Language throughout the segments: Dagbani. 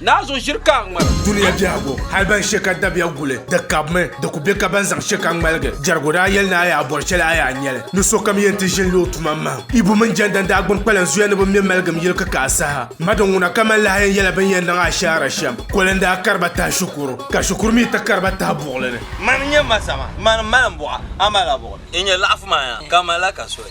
Naa zo ʒiri ka a ŋmara. Dunia biɛhigu, hal ban she ka dabiya guli, di kabimi. Di ku be ka ban zaŋ she ka ŋmaligi. Jɛrigu daa yɛli ni a yaa bɔri shɛli a yaa nya li. Ni sokam yɛn ti ʒini lo o tuma m-mahim. Ibu mini Jɛnda n-daa gbini kpalan zuya ni bɛ me maligim yili kikaa saha. Madon ŋuna kaman lahi yɛn yɛla bɛ ni yɛn niŋ ashaara shɛm. Koli n-daa kari ba tahi shikuru, ka shikuru mi ti kari ba tahi buɣili ni. Mani n-nyɛ Mazama, mani m-mali m buɣa, a mali a buɣili. N nyɛ laɣifu maa yaa, ka m mali a ka soli.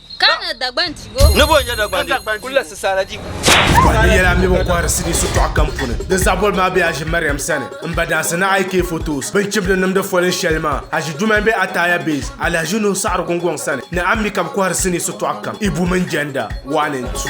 Kana Dagban Dibu. Ni bɔ nyɛ Dagban Dibu. Kuli la Sisaala Dibu. Bɔhiri ni yɛla mini bɛ kɔhiri sidi sitɔɣu kam puuni. Di zaboli maa be Haji Mariam sani. M ba dansi ni IK Photos bini chibili nimdi foli shɛli maa. Haji Duuma m be Ataya Base, Alhaji Nuhu Saɣiri Gungɔŋ sani ni Ammi ka bɛ kɔhiri sini sitɔɣu kam, Ibu mini Jɛnda, one and two.